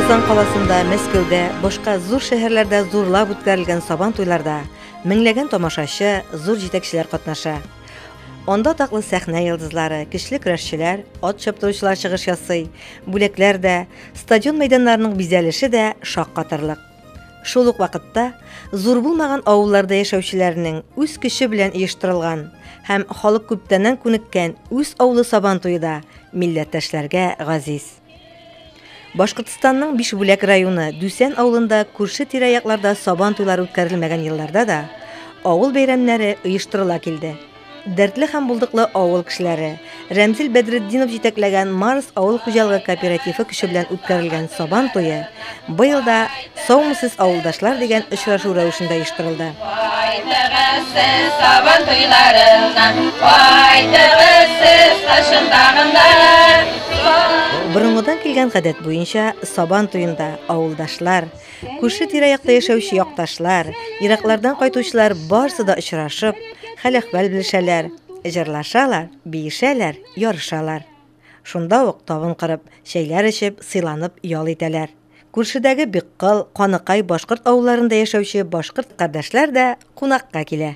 Казан каласында, Мәскәүдә, башка зур шәһәрләрдә зурлап үткәрелгән сабан туйларда меңләгән тамашачы, зур җитәкчеләр катнаша. Анда таклы сәхнә йолдызлары, көчле көрәшчеләр, ат чаптыручылар чыгыш ясый, бүләкләр дә, Стадион мәйданнарының бизәлеше дә шаккатырлык. Шул ук вакытта зур булмаган авылларда яшәүчеләрнең үз көче белән оештырылган һәм халык күптәннән күнеккән үз авылы сабан туе да милләттәшләргә газиз. Башкортстанның Бишбүләк районы Дүсән авылында күрше тирә-якларда сабан туйлары үткәрелмәгән елларда да авыл бәйрәмнәре оештырыла килде. Дәртле һәм булдыклы авыл кешеләре. Рәмзил Бәдретдинов җитәкләгән Марс авыл хуҗалыгы кооперативы көче белән үткәрелгән Сабан туе быел да Саумысыз авылдашлар дигән очрашу рәвешендә оештырылды. Кайтыгыз сез Сабан туйларына, кайтыгыз сез кышын тагында. Борынгыдан килгән гадәт буенча Сабан туенда авылдашлар, Күрше тирә-якта яшәүче якташлар, ераклардан кайтучылар барсы да очрашып, хәл-әхвәл белешәләр, җырлашалар, биешәләр, ярышалар. Шунда ук табын корып, чәйләр эчеп, сыйланып ял итәләр. Күршедәге Биккол, Каныкай башкорт авылларында яшәүче башкорт кардәшләр дә кунакка килә.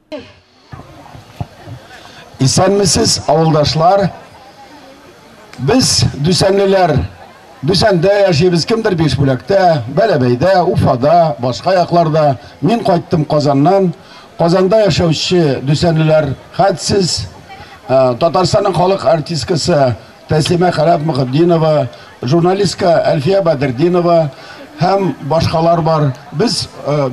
Исәнмесез, авылдашлар. Без дүсәнлеләр Дүсәндә яшибез, кемдер Бишбүләктә, Бәләбәйдә, Уфада, башка якларда. Мин кайттым Казаннан. Казанда яшәүче Дүсәнлеләр, хәтсез Татарстанның халык артисткасы Тәслимә Каләф Мөхетдинова, журналистка Әлфия Бәдертдинова һәм башкалар бар. Без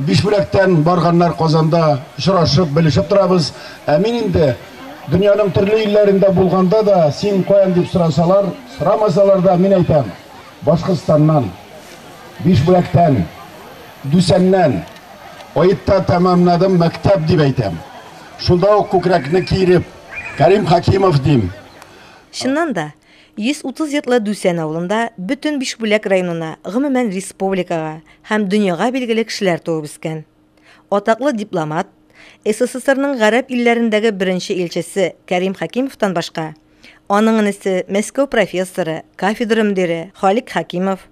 биш бүләктән барганнар Казанда очрашып, белешеп торабыз. Ә мин инде дөньяның төрле илләрендә булганда да, син каян дип сорасалар, сорамасалар да, мин әйтәм, Башкортстаннан, биш бүләктән, Дүсәннән, Аетта тәмамнадым мәктәп, дип әйтәм. Шунда ук күкрәкне киереп, Кәрим Хәкимов дим. Чыннан да, 130 йортлы Дүсән авылында бөтен Бишбүләк районына, гомумән республикага һәм дөньяга билгеле кешеләр туып үскән. Атаклы дипломат, СССРның гарәп илләрендәге беренче илчесе Кәрим Хәкимовтан башка, аның энесе, Мәскәү профессоры, кафедра мөдире Халик Хәкимов,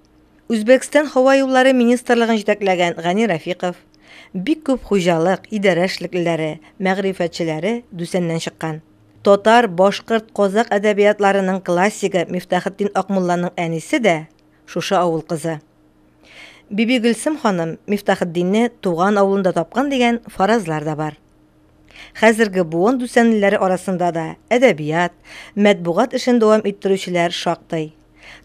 Үзбәкстан һава юллары министрлыгын җитәкләгән Гани Рәфиков, бик күп хуҗалык, идарә эшлеклеләре, мәгърифәтчеләре Дүсәннән чыккан. Татар, башкорт, казакъ әдәбиятларының классигы Мифтахетдин Акмулланың әнисе дә, шушы авыл кызы. Бибигөлсем ханым Мифтахетдинне туган авылында тапкан дигән фаразлар да бар. Хәзерге буын дүсәнлеләре арасында да әдәбият, мәтбугат эшен дәвам иттерүчеләр шактый.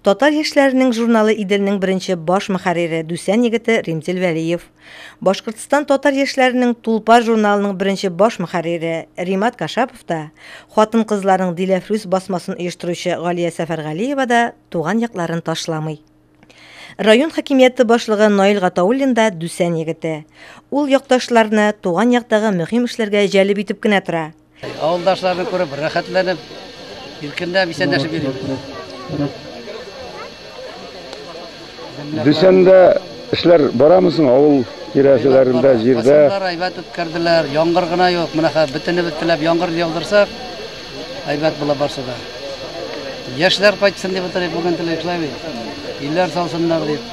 Татар яшьләренең журналы Иделнең беренче баш мөхәррире Дүсән егете Римзил Вәлиев. Башкортстан татар яшьләренең Тулпар журналының беренче баш мөхәррире Римат Кашапов та, хатын-кызларның Диләфрүз басмасын оештыручы Галия Сәфәргалиева да туган якларын ташламый. Район хакимияте башлыгы Наил Гатауллин да Дүсән егете. Ул якташларны туган яктагы мөһим эшләргә җәлеп итеп кенә тора. Авылдашларны күреп, рәхәтләнеп, иркендә бисәнләшеп йөрим. Дүшәндә эшләр барамы соң авыл тирәселәрендә, җирдә? Басымдар әйбәт үткәрделәр, яңгыр гына юк. Менә хәзер бөтенебез теләп яңгыр яудырсак, әйбәт була барсы да. Яшьләр кайтсын дип утырыйк бүген теләк шулай бит. Илләр салсыннар дип.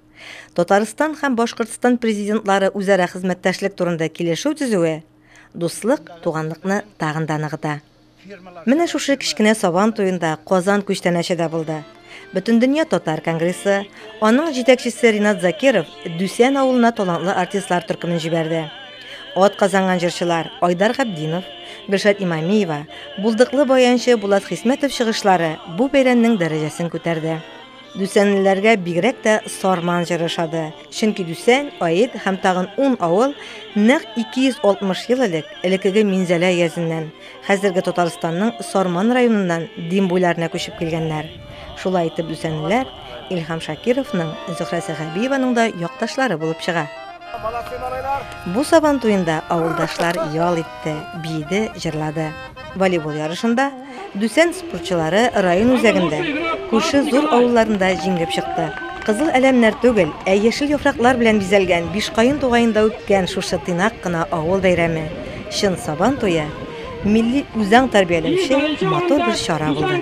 Татарстан һәм Башкортстан президентлары үзара хезмәттәшлек турында килешү төзүе дуслык, туганлыкны тагын да ныгыта. Менә шушы кечкенә Сабан туенда Казан күчтәнәче дә булды. Бөтендөнья татар конгрессы, аның җитәкчесе Ринат Закиров Дүсән авылына талантлы артистлар төркемен җибәрде. Ат казанган җырчылар Айдар Габдинов, Гөлшат Имамиева, булдыклы баянчы Булат Хисмәтов чыгышлары бу бәйрәмнең дәрәҗәсен күтәрде. Дүсәнлеләргә бигрәк тә Сарман җыры ошады, чөнки Дүсән, Аид һәм тагын ун авыл нәкъ 260 ел элек, элеккеге Минзәлә өязеннән, хәзерге Татарстанның Сарман районыннан Дим буйларына күчеп килгәннәр. Шулай итеп Дүсәнлеләр Илһам Шакировның, Зөһрә Сәхәбиеваның да якташлары булып чыга. Бу Сабан туенда авылдашлар ял итте, биеде, җырлады. Волейбол ярышында, Дүсән спортчылары район үзәгендә, күрше зур авылларында җиңеп чыкты. Кызыл әләмнәр түгел, ә яшел яфраклар белән бизәлгән Бишкаен тугаенда үткән шушы тыйнак кына авыл бәйрәме, чын Сабан туе, милли үзаң тәрбияләүче матур бер чара булды.